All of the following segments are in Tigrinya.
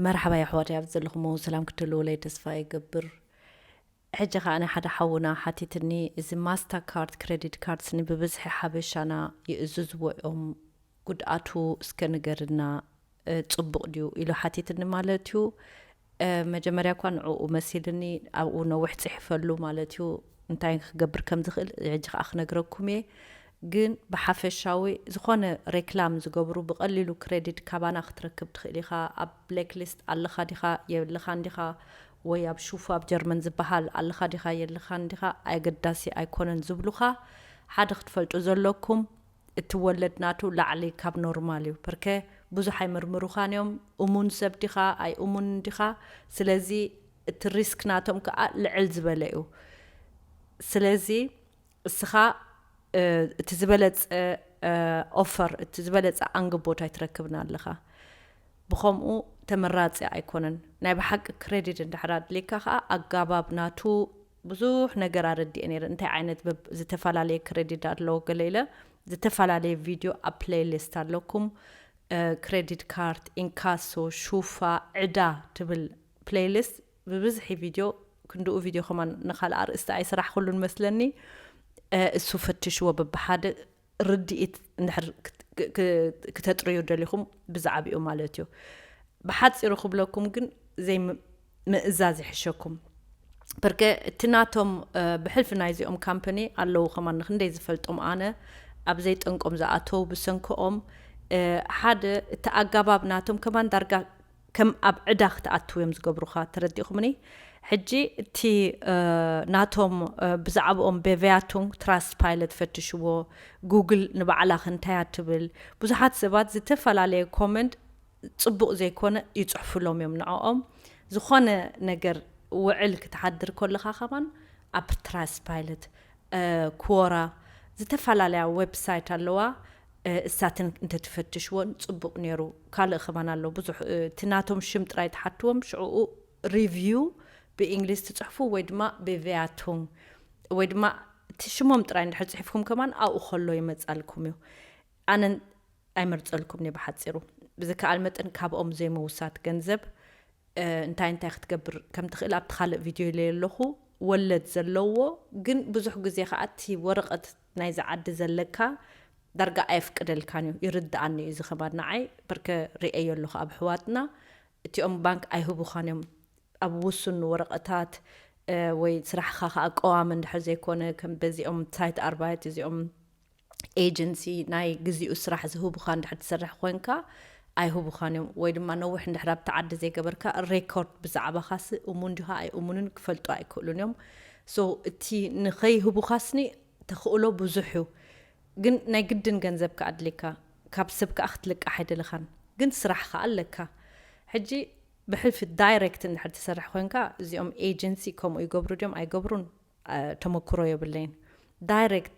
መርሓባ የሕዋተይ ኣብዚ ዘለኹሞ ሰላም ክትህልዉለይ ተስፋ ይገብር ሕጂ ከኣ ሓደ ሓውና ሓቲትኒ እዚ ማስታ ካርድ ክረዲት ካርድስ ንብብዝሒ ሓበሻና ይእዝዝዎ እዮም ጉድኣቱ እስከ ንገርና ጽቡቕ ድዩ ኢሉ ሓቲትኒ ማለት እዩ መጀመርያ እኳ ንዕኡ መሲልኒ ኣብኡ ነዊሕ ጽሒፈሉ ማለት እዩ እንታይ ክገብር ከም ዝኽእል ሕጂ ከኣ ክነግረኩም እየ ግን ብሓፈሻዊ ዝኾነ ሬክላም ዝገብሩ ብቀሊሉ ክረዲድ ካባና ክትረክብ ትኽእል ኢኻ ኣብ ብሌክ ሊስት ኣለኻ ዲኻ የልኻን ዲኻ ወይ ኣብ ሹፉ ኣብ ጀርመን ዝበሃል ኣለኻ ዲኻ የልኻን ዲኻ ኣገዳሲ ኣይኮነን ዝብሉኻ ሓደ ክትፈልጡ ዘለኩም እቲ ወለድ ናቱ ላዕሊ ካብ ኖርማል እዩ ፐርከ ብዙሕ ኣይምርምሩኻን እዮም እሙን ሰብ ዲኻ ኣይ እሙንን ዲኻ ስለዚ እቲ ሪስክ ናቶም ከኣ ልዕል ዝበለ እዩ ስለዚ እስኻ እቲ ዝበለጸ ኦፈር እቲ ዝበለጸ ኣንግቦት ኣይትረክብን ኣለኻ ብኸምኡ ተመራጺ ኣይኮነን ናይ ብሓቂ ክሬዲት እንድሕር ኣድልየካ ከኣ ኣጋባብ ናቱ ብዙሕ ነገር ኣረዲኤ ነይረ እንታይ ዓይነት ዝተፈላለየ ክሬዲት ኣለዎ ገለ ኢለ ዝተፈላለየ ቪድዮ ኣብ ፕሌይሊስት ኣለኩም ክሬዲት ካርድ ኢንካሶ ሹፋ ዕዳ ትብል ፕሌይሊስት ብብዝሒ ቪድዮ ክንድኡ ቪድዮ ከማን ንካልእ ኣርእስቲ ኣይሰራሕኩሉን መስለኒ እሱ ፈትሽዎ በብሓደ ርድኢት እንድሕር ክተጥርዩ ደሊኹም ብዛዕብኡ ማለት እዩ ብሓፂሩ ክብለኩም ግን ዘይ ምእዛዝ ይሕሸኩም በርከ እቲ ናቶም ብሕልፊ ናይዚኦም ካምፓኒ ኣለዉ ከማን ንክንደይ ዝፈልጦም ኣነ ኣብ ዘይጠንቆም ዝኣተው ብሰንክኦም ሓደ እቲ ኣጋባብ ናቶም ከማን ዳርጋ ከም ኣብ ዕዳ ክትኣትው እዮም ዝገብሩኻ ተረዲእኹምኒ ሕጂ እቲ ናቶም ብዛዕብኦም Bewertung Trustpilot ፈትሽዎ Google ንባዕላኽ እንታይ እያ ትብል ብዙሓት ሰባት ዝተፈላለየ ኮመንት ጽቡቕ ዘይኮነ ይጽሕፉሎም እዮም ንዕኦም ዝኾነ ነገር ውዕል ክትሓድር ኮለኻ ከማን ኣብ Trustpilot ኩዎራ ዝተፋላለያ ወብ ሳይት ኣለዋ እሳትን እንተትፈትሽዎን ጽቡቅ ኔሩ ካልእ ከማን ኣሎ ብዙሕ እቲ ናቶም ሽም ጥራይ ትሓትዎም ሽዑኡ ሪቪው ብእንግሊዝ ትጽሕፉ ወይ ድማ ብቪያቱንግ ወይ ድማ እቲ ሽሞም ጥራይ እንድሕር ጽሒፍኩም ከማን ኣብኡ ከሎ ይመጻልኩም እዩ ኣነ ኣይመርጸልኩምንየ ብሓጺሩ ብዝከኣል መጠን ካብኦም ዘይምውሳድ ገንዘብ እንታይ እንታይ ክትገብር ከም ትኽእል ኣብቲ ካልእ ቪድዮ ኢለዮ ኣለኹ። ወለድ ዘለዎ ግን ብዙሕ ግዜ ከዓ እቲ ወረቐት ናይዚ ዓዲ ዘለካ ዳርጋ ኣየፍቅደልካን እዩ። ይርድኣኒ እዩ እዚ ከማን ንዓይ በርከ ሪኤዮ ኣለኹ ኣብ ኣሕዋትና እቲኦም ባንክ ኣይህቡኻን እዮም ኣብ ውሱን ወረቐታት ወይ ስራሕኻ ከዓ ቀዋሚ እንድሕር ዘይኮነ ከም በዚኦም ሳይት ኣርባይት እዚኦም ኤጀንሲ ናይ ግዚኡ ስራሕ ዝህቡኻ እንድሕር ትሰርሕ ኮንካ ኣይህቡኻን እዮም ወይ ድማ ነዊሕ እንድሕር ኣብቲ ዓዲ ዘይገበርካ ሬኮርድ ብዛዕባኻሲ እሙን ድኻ ኣይእሙንን ክፈልጡ ኣይክእሉን እዮም ሶ እቲ ንኸይህቡኻስኒ ተኽእሎ ብዙሕ እዩ ግን ናይ ግድን ገንዘብ ከ ኣድልየካ ካብ ሰብ ከዓ ክትልቃሕ ኣይደለኻን ግን ስራሕ ከዓ ኣለካ ሕጂ ብሕልፊ ዳይሬክት እንድሕር ትሰርሕ ኮንካ እዚኦም ኤጀንሲ ከምኡ ይገብሩ ድዮም ኣይገብሩን ተመኩሮ የብለይን ዳይሬክት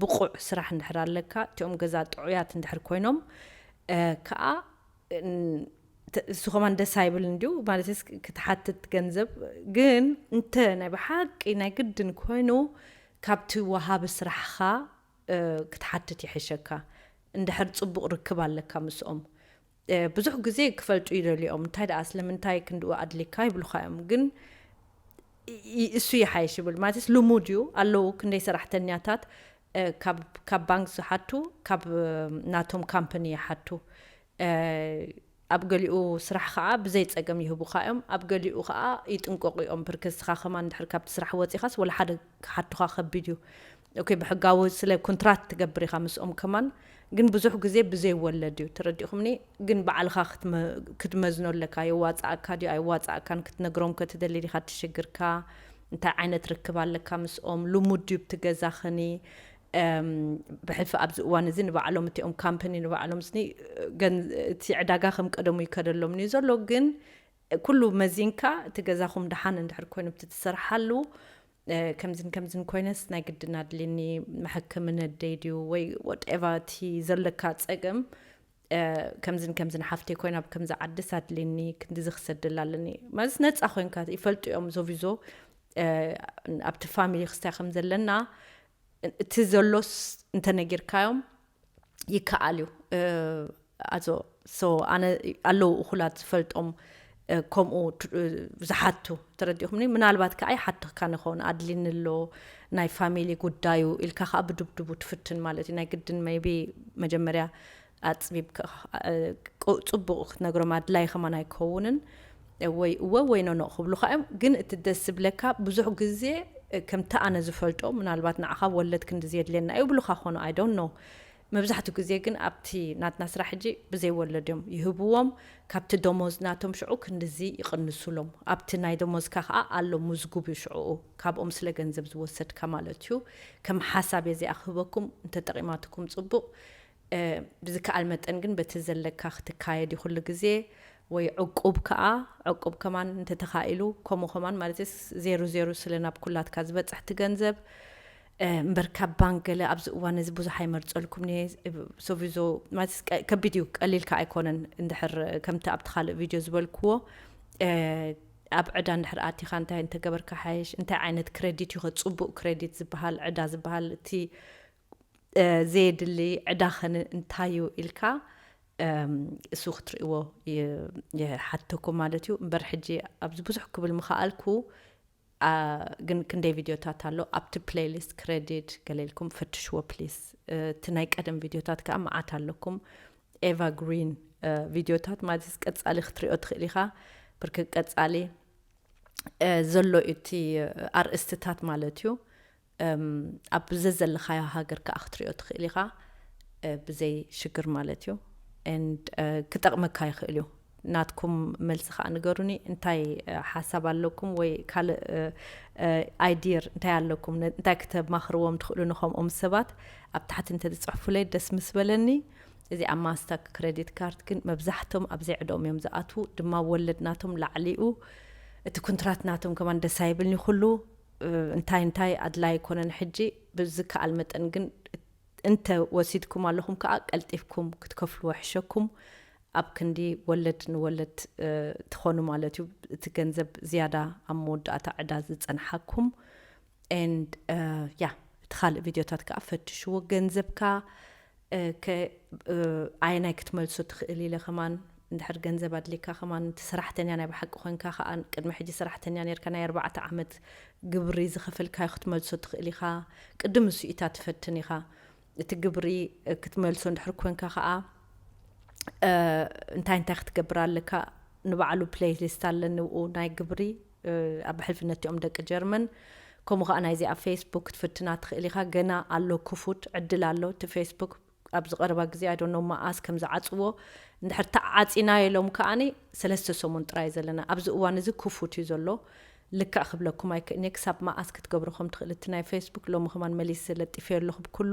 ብቑዕ ስራሕ እንድሕር ኣለካ እቲኦም ገዛ ጥዑያት እንድሕር ኮይኖም ከኣ እሱ ከማን ደስ ኣይብል እንዲዩ ማለት ክትሓትት ገንዘብ ግን እንተ ናይ ብሓቂ ናይ ግድን ኮይኑ ካብቲ ወሃቢ ስራሕኻ ክትሓትት ይሕሸካ እንድሕር ፅቡቕ ርክብ ኣለካ ምስኦም ብዙሕ ግዜ ክፈልጡ ይደልዩ እዮም እንታይ ደኣ ስለምንታይ ክንድኡ ኣድሊካ ይብሉካ እዮም ግን እሱ ይሓይሽ ይብል ማለትስ ልሙድ እዩ ኣለዉ ክንደይ ሰራሕተኛታት ካብ ባንክ ዝሓቱ ካብ ናቶም ካምፓኒ ይሓቱ ኣብ ገሊኡ ስራሕ ከዓ ብዘይ ፀገም ይህቡካ እዮም ኣብ ገሊኡ ከዓ ይጥንቀቁ እዮም ብርክ ንስኻ ከማን ድሕር ካብቲ ስራሕ ወፂኻስ ወላ ሓደ ክሓቱኻ ከቢድ እዩ ኦኬ ብሕጋዊ ስለ ኩንትራት ትገብር ኢኻ ምስኦም ከማን ግን ብዙሕ ግዜ ብዘይ ወለድ እዩ ተረዲኹምኒ ግን ባዕልኻ ክትመዝኖ ኣለካ የዋፃኣካ ድዩ ኣይዋፃኣካን ክትነግሮም ከትደሊ ዲኻ ትሽግርካ እንታይ ዓይነት ርክብ ኣለካ ምስኦም ልሙድ ድዩ ብቲ ገዛኽኒ ብሕልፊ ኣብዚ እዋን እዚ ንባዕሎም እቲኦም ካምፕኒ ንባዕሎም ስኒ እቲ ዕዳጋ ከም ቀደሙ ይከደሎም እዩ ዘሎ ግን ኩሉ መዚንካ እቲ ገዛኹም ድሓን እንድሕር ኮይኑ ብቲ ትሰርሓሉ ከምዝን ከምዝን ኮይነስ ናይ ግድን ኣድልኒ መሐከሚ ነደይ ድዩ ወይ ወትኤቫ እቲ ዘለካ ፀገም ከምዝን ከምዝን ሓፍተይ ኮይና ብ ከምዚ ዓድስ ኣድልኒ ክንዲዚ ክሰደላ ኣለኒ ማለት ነፃ ኮይንካ ይፈልጡ እዮም ዞቪዞ ኣብቲ ፋሚሊ ክስታይ ከም ዘለና እቲ ዘሎስ እንተነጊርካዮም ይከኣል እዩ ኣዞ ኣነ ኣለዉ እኹላት ዝፈልጦም ከምኡ ዝሓቱ ተረዲኹምኒ ምናልባት ከዓ ይሓትኽካ ንኸውን ኣድሊኒ ኣሎ ናይ ፋሚሊ ጉዳዩ ኢልካ ከዓ ብድብድቡ ትፍትን ማለት እዩ ናይ ግድን መይቢ መጀመርያ ኣፅቢብ ፅቡቅ ክትነግሮም ኣድላይ ከማን ኣይከውንን እወይ እወ ወይ ኖኖእ ክብሉኻ እዮም ግን እቲ ደስ ዝብለካ ብዙሕ ግዜ ከምቲ ኣነ ዝፈልጦ ምናልባት ንዓኻ ወለድ ክንድዚ የድልየና እዩ ይብሉኻ ክኾኑ ኣይ ዶንት ኖው መብዛሕትኡ ግዜ ግን ኣብቲ ናትና ስራሕ ሕጂ ብዘይ ወለድ እዮም ይህብዎም ካብቲ ደሞዝ ናቶም ሽዑ ክንድዚ ይቕንሱሎም ኣብቲ ናይ ደሞዝካ ከኣ ኣሎ ሙዝጉብ እዩ ሽዑኡ ካብኦም ስለ ገንዘብ ዝወሰድካ ማለት እዩ ከም ሓሳብ እየ እዚኣ ክህበኩም እንተጠቒማትኩም ጽቡቕ ብዝከኣል መጠን ግን በቲ ዘለካ ክትካየድ እዩ ኩሉ ግዜ ወይ ዕቁብ ከኣ ዕቁብ ከማን እንተተኻኢሉ ከምኡ ከማን ማለት ዜሩ ዜሩ ስለ ናብ ኩላትካ ዝበጽሕ ትገንዘብ እምበር ካብ ባንክ ገለ ኣብዚ እዋን እዚ ብዙሕ ኣይመርጸልኩም እየ ሶቪዞ ማለት ከቢድ እዩ ቀሊል ከኣ ኣይኮነን እንድሕር ከምቲ ኣብቲ ካልእ ቪድዮ ዝበልክዎ ኣብ ዕዳ እንድሕር ኣቲኻ እንታይ እንተገበርካ ሓየሽ እንታይ ዓይነት ክሬዲት እዩ ከ ጽቡቅ ክሬዲት ዝበሃል ዕዳ ዝበሃል እቲ ዘየድሊ ዕዳ ከ እንታይ እዩ ኢልካ እሱ ክትርእዎ ይሓተኩም ማለት እዩ እምበር ሕጂ ኣብዚ ብዙሕ ክብል ምኸኣልኩ ግን ክንደይ ቪድዮታት ኣሎ ኣብቲ ፕሌይሊስት ክሬዲት ገሌልኩም ፈትሽዎ ፕሊስ እቲ ናይ ቀደም ቪድዮታት ከዓ መዓት ኣለኩም ኤቫ ግሪን ቪድዮታት ማለት ቀፃሊ ክትሪኦ ትኽእል ኢኻ ብርክ ቀፃሊ ዘሎ እቲ ኣርእስትታት ማለት እዩ ኣብ ዘዘለኻዮ ሃገር ከኣ ክትሪኦ ትኽእል ኢኻ ብዘይ ሽግር ማለት እዩ ክጠቕመካ ይኽእል እዩ ናትኩም መልሲ ከዓ ንገሩኒ እንታይ ሓሳብ ኣለኩም ወይ ካልእ ኣይዲር እንታይ ኣለኩም እንታይ ክተማኽርዎም ትኽእሉ ንከምኦም ሰባት ኣብ ታሕቲ እንተዝፅሕፉለይ ደስ ምስ በለኒ እዚ ኣብ ማስታክ ክሬዲት ካርድ ግን መብዛሕቶም ኣብ ዘይዕደኦም እዮም ዝኣትዉ ድማ ወለድ ናቶም ላዕሊኡ እቲ ኩንትራት ናቶም ከማን ደስ ኣይብልኒ ኩሉ እንታይ እንታይ ኣድላይ ኣይኮነን ሕጂ ብዝከኣል መጠን ግን እንተ ወሲድኩም ኣለኹም ከኣ ቀልጢፍኩም ክትከፍልዎ ሕሸኩም ኣብ ክንዲ ወለድ ንወለድ ትኾኑ ማለት እዩ እቲ ገንዘብ ዝያዳ ኣብ መወዳእታ ዕዳ ዝጸንሓኩም ኤንድ ያ እቲ ካልእ ቪድዮታት ከኣ ፈትሽዎ ገንዘብካ እከ ኣየናይ ክትመልሶ ትኽእል ኢለ ከማን እንድሕር ገንዘብ ኣድልየካ ከማን እቲ ሰራሕተኛ ናይ ብሓቂ ኮንካ ከኣ ቅድሚ ሕጂ ሰራሕተኛ ኔርካ ናይ ኣርባዕተ ዓመት ግብሪ ዝኸፈልካዮ ክትመልሶ ትኽእል ኢኻ ቅድም ንሱኢታት ትፈትን ኢኻ እቲ ግብሪ ክትመልሶ እንድሕር ኮንካ ከኣ እንታይ እንታይ ክትገብር ኣለካ ንባዕሉ ፕለይሊስት ኣለኒ ኡ ናይ ግብሪ ኣብ ሕልፍነትኦም ደቂ ጀርመን ከምኡ ከኣ ናይዚ ኣብ ፌስቡክ ክትፍትና ትክእል ኢካ ገና ኣሎ ክፉት ዕድል ኣሎ እቲ ፌስቡክ ኣብዚ ቀረባ ግዜ ኣይ ዶንት ኖው መኣስ ከም ዝዓጽዎ እንድሕር ተዓጺናዮ ኢሎም ከኣ ሰለስተ ሰሙን ጥራይ እዩ ዘለና ኣብዚ እዋን እዚ ክፉት እዩ ዘሎ ልክዕ ክብለኩም ኣይክእልንየ ክሳብ መኣስ ክትገብሩ ከም ትክእል እቲ ናይ ፌስቡክ ሎሚ ከማን መሊሰ ለጢፈዮ ኣለኩ ብ ኩሉ